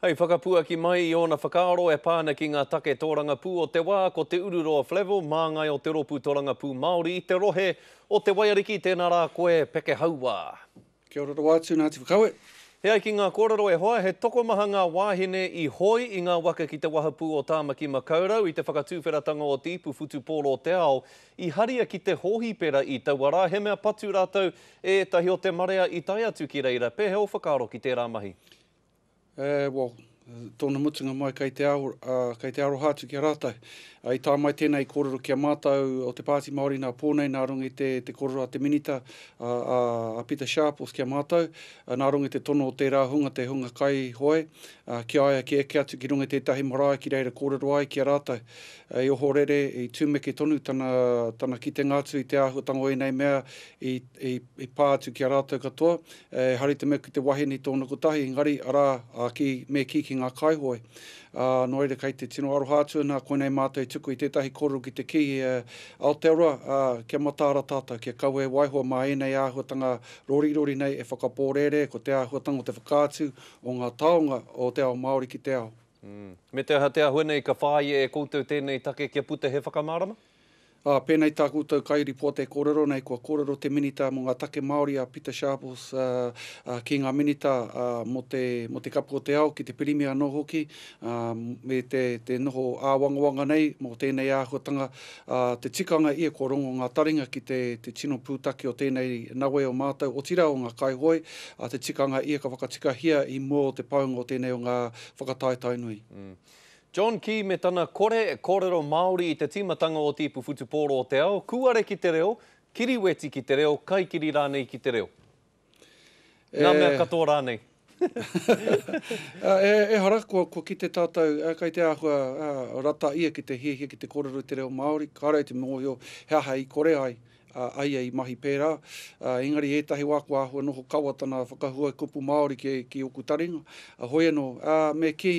Hei whakapuaki mai i ōna whakaaro e pā ana ki ngā take tōrangapū o te wā, ko Te Ururoa Flavell, māngai o te Rōpū Tōrangapū Māori i te rohe o Te Waiariki, tēnā rā koe, Peke Hauā. Kia ora rawa atu, Ngāti Whakaue. E ai ki ngā kōrero e hoa, he tokomaha ngā wāhine i hoi i ngā waka ki te wahapū o Tāmaki Makaurau i te whakatūwheratanga o te ipu whutupōro o te ao I haria ki te hōhipera i taua rā, he mea patu rātou e ētahi o te marea i tae atu ki reira. Pēhea ō whakaaro ki tērā mahi? Eh, well, tōna mutunga mai kei te ao, ah, kei te aroha atu ki a rātou. Ah, i tae mai tēnā i kōrero ki a mātou o te Pāti Māori nā pō nei, nā runga i te, te kōrero a te Minita, a, a, a Pita Sharples ki a mātou, ah, nā runga i te tono o tērā hunga, te hunga kaihoe, ah, ki a ia kia eke atu ki runga i tētahi marae ki reira kōrero ai ki a rātou. Hei ohorere, i tumeke tonu tana, tana kitenga atu i te āhuatanga o ēnei mea i, i, i pā atu ki a rātou katoa. Ehara i te mea ki te wahine i tōna kotahi, engari, arā, ā, ki, me kī ki ngā kaihoe. Ā, nō reira kei te tino aroha atu ina koinei mātou i tuku i tētahi kōrero ki te kī, e, Aotearoa, ā, kia mataara tātou, kia kaua e waiho mā ēnei āhuatanga rorirori nei e whakapōrēre, ko te āhuatanga o te whakaatu o ngā taonga o te ao Māori ki te ao. Me te aha te āhua nei ka whāia e koutou tēnei take kia puta he whakamārama? Ā, pēnei tā koutou kairipota e kōrero nei, kua kōrero te Minita mō ngā Take Māori a Pita Sharples ki ngā Minita mō te mō te Kapu o te Ao, ki te Pirimia anō hoki, me te te noho āwangawanga nei mō tēnei āhuatanga, ā, te tikanga ia kua rongo ngā taringa ki te te tino pūtake o tēnei nawe o mātou, otirā o ngā kaihoe, ā, te tikanga ia ka whakatikahia i mua o te paunga o tēnei o ngā whakataetaenui. John Key me tana kore kōrero Māori i te tīmatanga o te ipu whutupōro o te ao, kūare ki te reo, kiriweti ki te reo, kaikiri rānei ki te reo. E. Ngā mea katoa rānei. e, ehara, kua, kua kite tātou, kei te āhua rata ia ki te hiahia ki te kōrero i te reo Māori, kāre ai te mōhio he aha i kore ai, a ia i mahi pērā, ā, engari ētahi wā kua āhua noho kawa tana whakahuae kupu Māori ki, ki ōku taringa, ā, hoi anō, ā, me kī,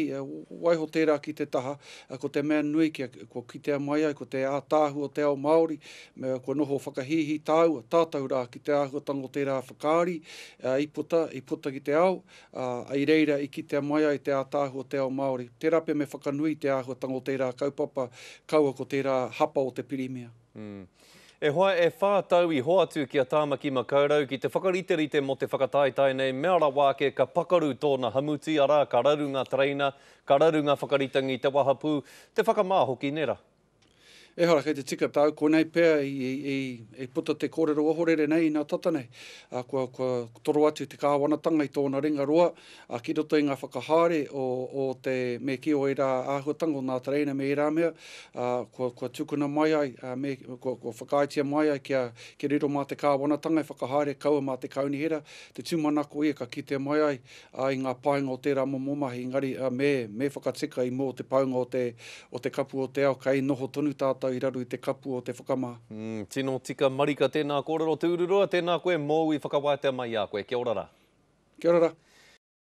waiho tērā ki te taha, ā, ko te mea nui kia, kua kitea mai ai ko te ātaahu o te ao Māori, me, kua noho whakahīhī tāua, tātou rā ki te āhuatanga o tērā whakaari, ā, i puta, i puta ki te ao, ā, i reira i kitea mai ai te ātaahu o te ao Māori. Tērā pea me whakanui i te āhuatanga o tērā kaupapa, kaua ko tērā hapa o te pirimia. E hoa e wha tau i hoatu ki a Tamaki Makaurau ki te whakariterite mo te whakataetae nei mea rawa ake ka pakaru tona hamuti ara ka raru nga tereina, ka raru nga whakaritangi te wahapu, te whakama hoki nera. Ehara kei te tika tau, konei pea i puta te korero ohorere nei ina tata nei, kua toro atu te kawanatanga i tona ringa roa, ā, ki roto i ngā whakahaere o, o te, me kī, o ērā āhuatanga o nā tereina me ērā mea, ā, kua, kua tukuna mai ai, ā, me, kua, kua whakaaetia mai ai kia, kia riro mā te Kāwanatanga e whakahaere, kaua mā te Kaunihera, te tūmanako ia ka kitea mai ai, ā, i ngā painga o tērā momo mahi, engari, ā, me, me whakatika i mua o te paunga o te, o te kapu o te ao, kei noho tonu tātou i raro i te kapu o te whakama. Umm, tino tika marika tēnā kōrero tūruroa, tēnā koe mōu i whakawātea mai i a koe. Kia ora rā. Kia ora rā.